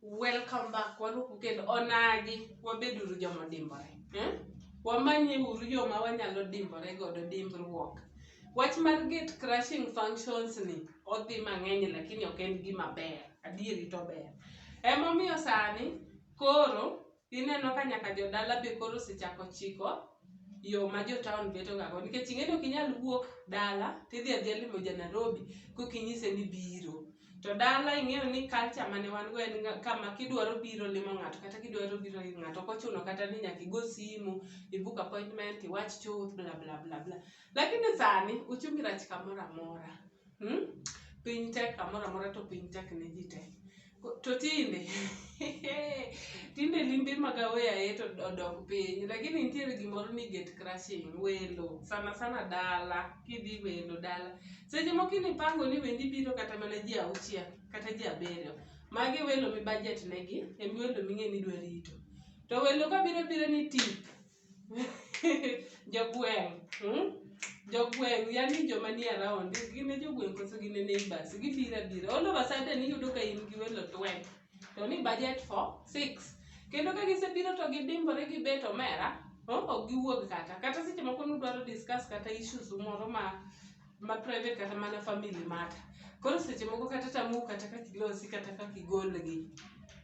Welcome back. Waduoku kendo onagi wabeduru joma dimbore. Hmm? Wamanye uru yo ma wanyalo dimbore godo dimbruok. Wach mar gate crushing functions ni odhi mang'eny lakini ok en gima ber. Adieri to ber. Emomiyo sani koro Ineno ka nyaka jodala be koro osechako chiko yo ma jo town beto ga go nikech ing'eni ok inyal wuok dala tidhi adhiya limo ja Nairobi kok inyise ni biro. To dala ing'eyo ni culture mane wan go en ga kama kidwaro biro limo ng'ato kata kidwaro biro ir ng'ato ok ochuno kata ni nyaka igo simu, i book appointment, iwach chuth bla bla bla bla. Lakini sani uchumi rach kamoro amora. Hmm? Piny tek kamoro amora to piny tek ne ji te. Ko- To tinde tinde limbe mag aweyaye to odok piny lakini nitiere gimoro ni gate crashing welo sana sana dala kidhi welo dala seche moko inipango ni wendi biro kata mana ji auchiel kata ji abiriyo magi welo mi budget negi en welo ming'e ni idwa rito to welo ka biro biro ni tip Jogweng', mmh, jogweng' yani joma nie around, gin e jogweng' koso gin e neighbours, gibiro abira. All of a sudden iyudo ka in gi welo 20 to ni budget for 6. Kendo ka gisebiro to gidimbore gibet omera, oh, ok giwuog kata. Kata seche moko nudwaro discuss kata issues u moro ma ma private kata mana family mata koro seche moko kata tamu kata kaka ilosi kata kaka igolgi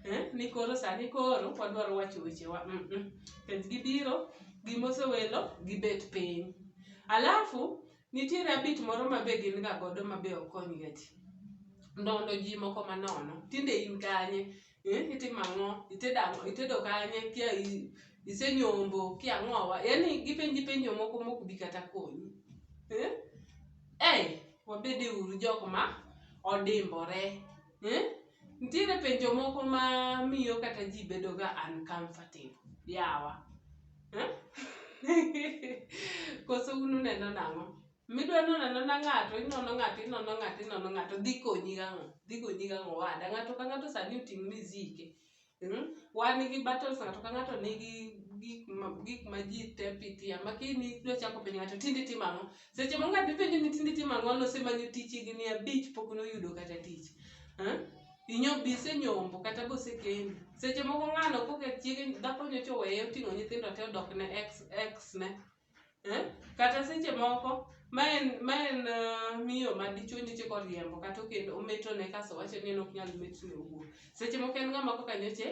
eh? ni koro sani koro wadwaro wacho wechewa mm -mm. Pens gibiro gimosewelo gibet piny alafu nitiere abit moro ma be gin ga godo ma be okonyga ji ndondo ji moko manono tinde in kanye eh, itimo ang'o itedo ang'o itedo kanye kia i- isenyombo kia ang'owa yani gipenji penjo moko mok bi kata konyi eh? Ei, wabede uru jok ma odimbore eh? nitiere penjo moko ma miyo kata ji bedo ga uncomfortable yawa eh? koso un uneno nang'o Midwa nono anona ng'ato, inono ng'ato, inono ng'ato, inono ng'ato, dhi konyi gang'o? Dhi konyi gang'o owada? Ng'ato ka ng'ato sani oting' mizike. Mm? Wan gi battles, ng'ato ka ng'ato nigi gik ma, gik ma ji te pitia, ma kini idwa chako penjo ng'ato tinde itimo ang'o? Seche moko ng'ato ipenjo ni tinde itimo ang'o, nosemanyo tich higni abich pok noyudo kata tich. Eh? Inyo bi isenyombo kata be osekendi. Seche moko ng'ano koka chiege dhako nyocha oweye oting'o nyithindo te odok ne ex, ex ne. Eh? Kata seche moko ma en ma en uh, miyo ma dichwo nyocha koriembo kata okendo ometone kaso wacho ni en ok nyal metne owuon. Seche moko en ng'ama kaka nyocha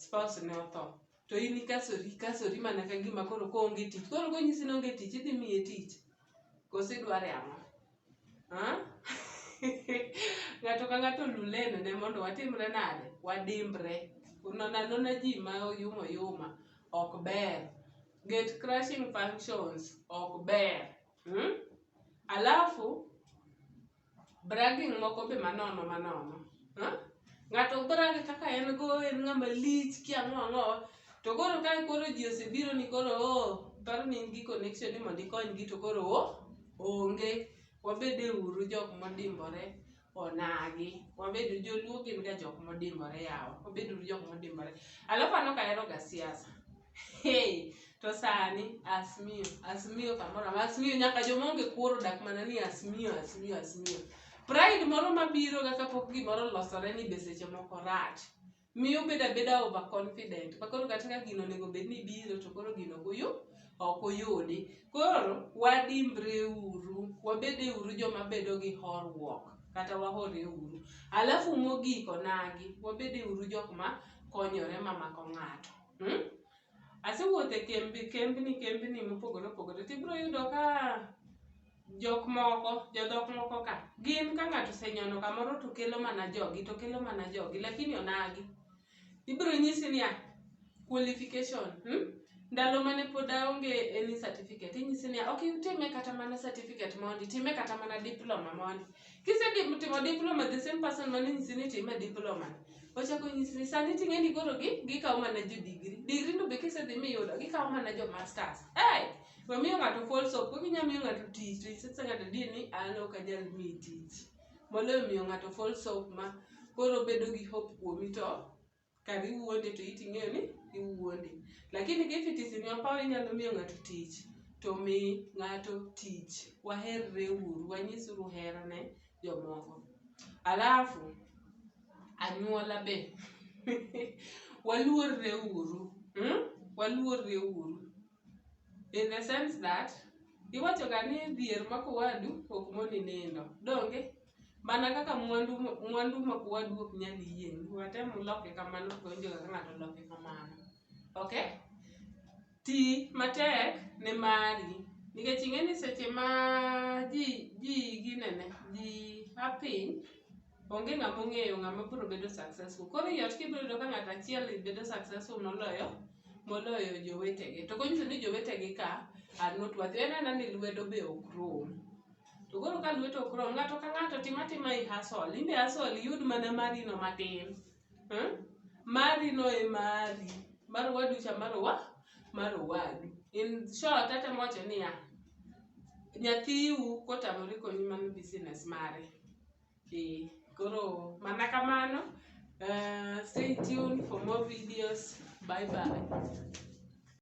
spouse ne otho. To in ikasori ikasori mana ka gima koro koonge tich. Koro konyisi ni onge tich idhi miye tich. Koso idware ang'o? Ng'ato ka ng'ato olu lane ne mondo watimre nade? Wadimbre. Nono anona ji ma oyuma oyuma ok ber. Gate crushing functions ok ber. Hmm? Alafu bragging moko be manono manono. Ha? Ng'ato ok dwar kaka kaka en go en ng'ama lich kia ang'o ang'o. To koro ka koro ji osebiro ni koro o paro ni in gi connection ni mondo ikonygi to koro o onge. Wabede uru jok modimbore onagi. Wabed joluo gin ga jok modimbore yawa. Wabed uru jok modimbore. Alafu an ok ahero ga siasa. Hey, to sani asmiyo asmiyo kamoro amora asmiyo nyaka joma onge kuoro odak mana ni asmiyo asmiyo asmiyo pride moro mabiro ga kapok gimoro olosore ni be seche moko rach miyo bedo abeda over confident ma koro kata ka gino onego bed ni biro to koro gino ok oyu ok oyudi koro wadimbre uru wabede uru joma bedo gi horruok kata wahore uru alafu mogik onagi wabede uru jok ma konyore mamako ng'ato Mm? Asewuotho e kembe, kembni, kembni mopogore opogore, to ibiro yudo ka jok moko, jodhok moko ka, gin ka ng'ato osenyono kamoro to kelo mana jogi, to kelo mana jogi, lakini onagi. Ibiro nyisi niya, qualification, hmm? ndalo mane pod aonge any certificate, inyisi niya, ok itime kata mana certificate mondi, time kata mana diploma mondi. Kisedip timo diploma, the same person mane nyisi ni time diploma ni, ochako nyisi ni sani ting'e ni koro gi gikawo mana jo degree. Degree no be kisedhi miyudo, gikawo mana jo masters. Hey! We miyo ng'ato false hope, kok inya miyo ng'ato tich, to isetsa ng'ato di ni an ok anyal miyi tich. Moloyo miyo ng'ato false hope ma koro obedo gi hope kuomi to Kar iwuonde to iti ing'eyo ni iwuonde. Lakini ka if it is in your power inyalo miyo ng'ato tich, to mi ng'ato tich. Waherre uru, wanyis uru hera ne jomoko. Alafu, anyuola be, waluorre uru. Hmm? Waluorre uru. In the sense that, iwachoga ni dhier mako wadu ok moni nindo. Donge? Mana kaka mwandu mwandu ma kwadu ok nyal yieng', watem uloke kamano to onge kaka ng'ato loke kamano. Okay? Ti matek ne mari. Nikech ing'e ni seche ma ji ji ginene, ji a piny, onge ng'ama ong'eyo ng'ama biro bedo successful. Koro ei ot kibiro yudo ka ng'ato achiel bedo successful moloyo moloyo jowetege. To konyiso ni jowetegi ka are not worthy. En anena ni lwedo be ok rom. to koro ka lwet ok rom ng'ato ka ng'ato tim atima i hasol imbe hasol iyud mana mari no matin hmm? mari no e mari mar wadu cha mar wa mar wadu in short ate moche niya nyathiu kotamore konyi mano business mare ee koro mana kamano uh, stay tuned for more videos bye bye